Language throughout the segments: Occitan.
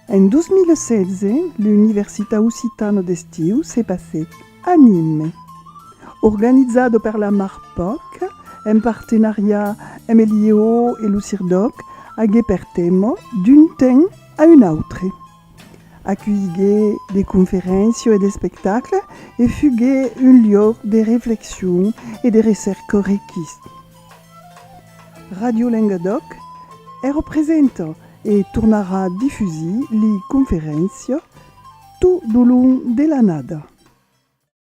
En 2016, l'Universitat Occitana d'Estiu se passèt a Nîmes. Organizado per la Marpoc, en partenariat amb el IEO e lo CIRDOC, agué per tèma D'un temps à un autre. Aculhigué de conferéncia e d'espectacle e fugué un liòc de reflexion e de recèrca riquís. Radio Lengadòc hè representa e tornarà difusir li conferéncia tot lo long de l'annada.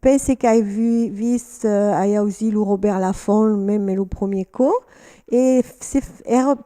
Pense qu'ai vist, ai ausit lo Robert Laffont meme lo premier còp e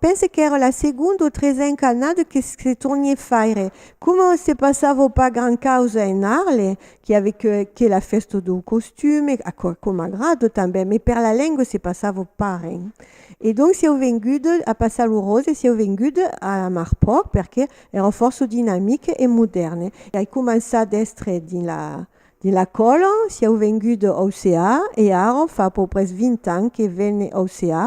pense qu'èra la segonda o tresenca annada que se tornié faire. Coma se passava pas gran causa en Arles, qu'i ave que la fèsta dau costume, aquò aquò m'agrada tanben, me per la lenga se passava pas ren. E donc sieu venguda a passar lo ròse e sieu venguda a amar pauc perque èra fòrça dinamique e modèrne. Ai començat d'èstre dins la De la Cola, sieu vengut de Auceà e ara fa a peu pres 20 ans que vene Auceà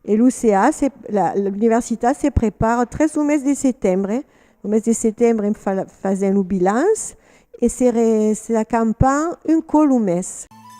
e l'UCA se la l'universitat se prepara tres lo mes de setembre, lo mes de setembre en fa fasèm lo bilans e se re se s'acampan un còp lo mes.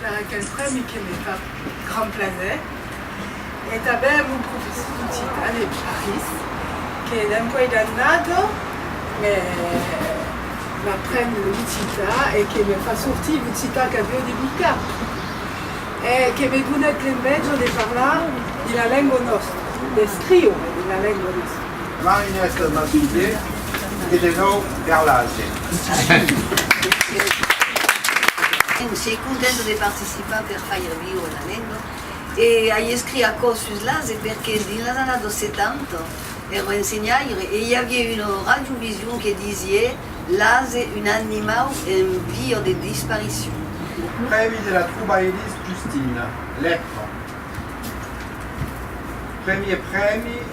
per aquel prèmi que me fa grand plaser e tanben lo professor d'occitan e parís que dempuèi d'annada me m'apren l'occitan e que me fa sortir l'occitan qu'avió de mica e que me donèt l'enveja de parlar de la lengua nòstra, d'escriure de la lengua nòstra. Mai nèstas mas un piè e de nòu per l'Asia. Èm sei contenta de participar per faire viure la lenga e ai escrit aquò sus l'Asia perque dins las annadas 70 èra ensenhaire e i aviá una radiovision que disié l'Asia un animau en via de disparicion. Lo prèmi de la trobairís Justina Lecran. Premier prèmi.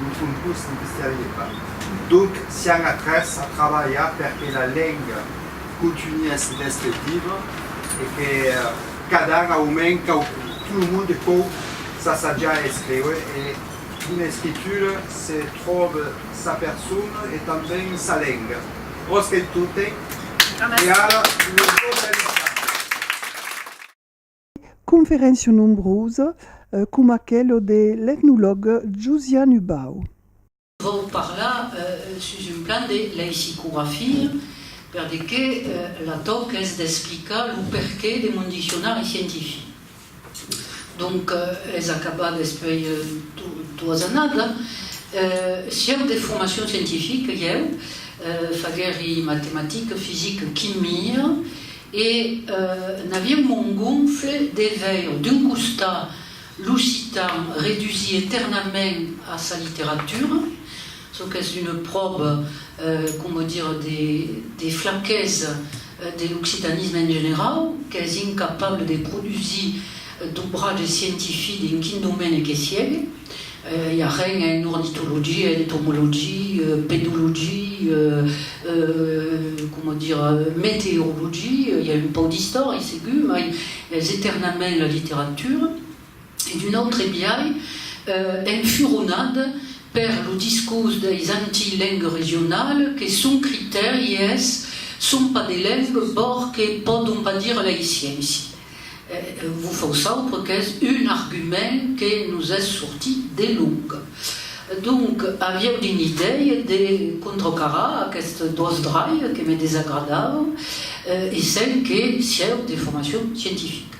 Lo son pus mistèrie pas. Donc sián a tres a trabalhar per que la lenga contunhèsse d'èster viva e que cadar au mens quauqui, tout le monde pòu s'assajar a escriure e d'una escritura se tròbe sa persona e tanben sa lenga. Rosquei totei e ara lo tot es lisat. conferéncia nombrosa com aquelo de l'etnolog Josian Hubau. Vau parlar sus un plan de leisicografia per de que la tòc es d'explicar lo perqué de mon diccionari scientific. Donc es acabat despuei doas annada sieu de formacion scientifica ieu fagueri matematica, fisica, quimia. E n'aviá un mond gonfle de veire, d'un costat, l'occitan redusir eternament a sa literatura, çò qu'es una pròva, coma dire, de flaquesa de l'occitanisme en generau, qu'es incapable de produsir d'obratge scientific en quin domène que siegue. I a ren en ornitologia, entomologia, pedologia, coma dire, meteorologia, i a un pauc d'istòria segur, mai es eternament la literatura. E d'un autre biais, enfuronat per lo discors deis anti-lengue regionale que son critèri es son pas de lengue, bòrque pòdon pas dire lei sciéncie. Vos fau saupre qu'es un argument que nos es sortit de long. Donc, avieu dins l'idèia de contracarar aquests dos drachs que me desagradavan, essent que sieu de formacion scientifica.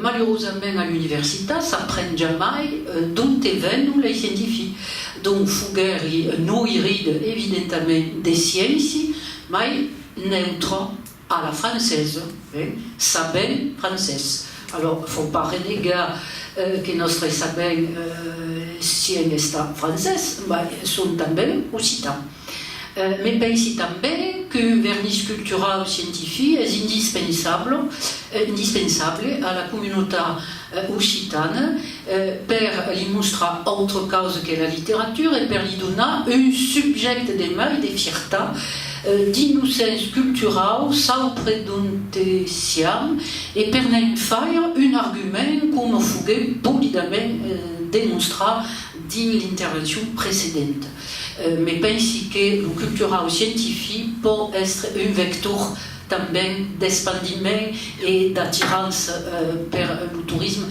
Malurosament a l'universitat s'apren jamai d'onte venon lei scientifics. Donc, foguèri un oiride evidentament de scienci, mai neutre. A la francesa, eh? Sabèm francés. Alors, faut pas renegar que nòstre sabèm sièm estat francés, mai som tanben occitan. Me pensi tanben qu'un vernís culturau scientific es indispensable a la comunautat occitane, per li mostrar autre causa que la literatura e per li donar un subjècte de mai de fierta dins lo sens culturau saupre donte siam e per ne'n faire un argument coma foguèt polidament demonstrat dins l'intervencion precedenta. Me pensi que lo culturau scientific pòt èstre un vector tanben d'espandiment e d'atirança per lo torism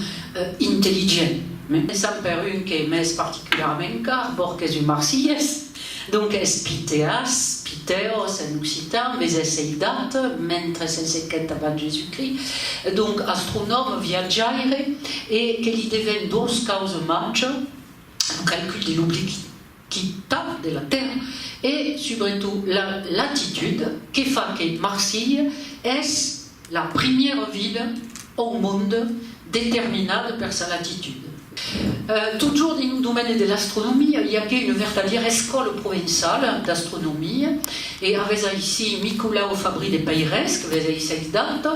intelligent. Començam per un que m'es particularament car, Bòrg qu'es un marsilhés, donc es Pitheas, Pitheos en occitan, mes es eidat men 307 abans Jésus-Christ, donc astronòme, viatjaire, e que li deven dos causes màger, lo calcul de l'obliqui. quittat de la tèrra e subretot la latitud que fa que Marsilha es la primièra vila au monde determinada per sa latitud. Totjorn dins lo domèni de l'astronomia i a que una vertadièra escòla provençala d'astronomia e avètz aicí Nicolau Fabri de Peirès que vètz aicí ath data,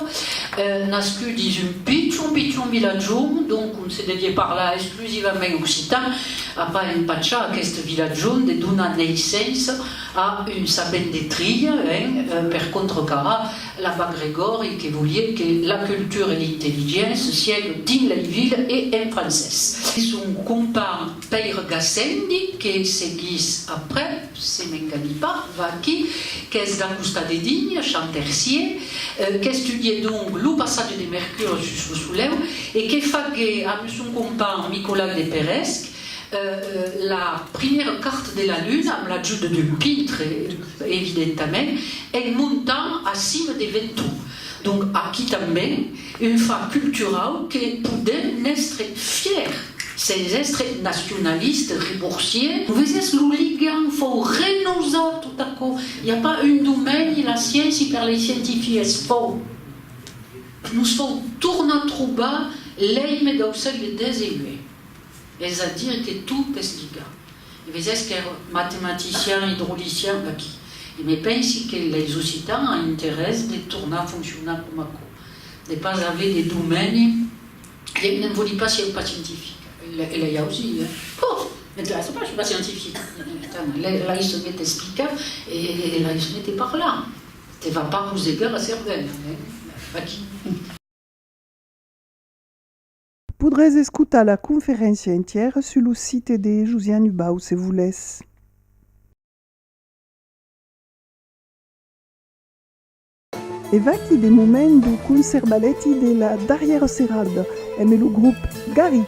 nascut dins un pichon pichon vilatjon, donc on se devié parlar es. exclusivament occitan, a pas empachar aqueste vilatjon de donar neissença a un sapent de trilha, hein, per contrecarar la Bac Gregòri que volié que la cultura e l'intelligent se siègue dins lei vila e en francés. Son companh Pèire Gassendi que seguís aprèp. Se m'engani pas, vaquí qu'es d'acostar de Digne, Chantercier, qu'estudiè donc lo passatge de Mercure sus lo Soleu e que faguè amb son companh Micolai de Peresc la primièra carta de la Luna, amb l'ajut d'un pintre, evidentament, en montant a cima de Ventoux. Donc aquí tanben un fach culturau que podem n'èstre fièr sens èstre nacionaliste riborsier. Vesètz lo ligam fòu renosat tot aquò, i a pas un domeni, la sciéncia per lei scientific es fòu. Nos fòu tornar trobar l'èime dau sègle xix, es a dire que tot es ligat. E vesètz qu'èr matematician idrolician aquí. E me pensi que leis occitans an interès de tornar foncionar coma aquò, de pas aver de domèni, e ne'n voli pas sieu pas scientifica. E lei ausi, eh! Pò! M'interèssa pas, soi pas scientifica. Tant, lei se met explicar e lei se mete parlar. Te va pas rosegar la cervèla, eh! Aquí. Podrètz escotar la conferéncia entièra sus lo site de Josian Hubau se volètz. E vaquí de moment lo concerbalèti de la darrièra serada, emé lo grop Garric!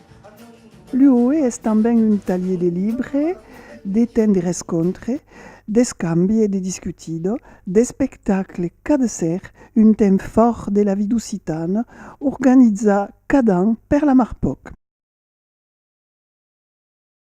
L'UOE es tanben un talhier de libre, de temps de rescontre, d'escambi e de discutida, d'espectacle cada ser, un temps fòrt de la vida occitana organizat cada an per la Marpòc.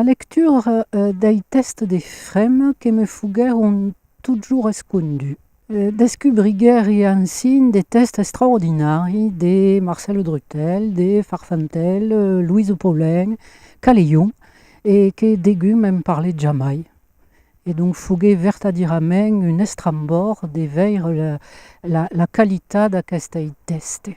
La lectura dei tèxts de Frem que me foguèron totjorn escondus. Descubriguèri ansin de tèxts extraordinaris de Marcel Drutel, de Farfantèl, Louise Paulin, Caleillon e que degun me'n parlèt jamai. E donc foguèt vertadièrament un estrambòrd de veire la qualitat d'aqueste tèxte.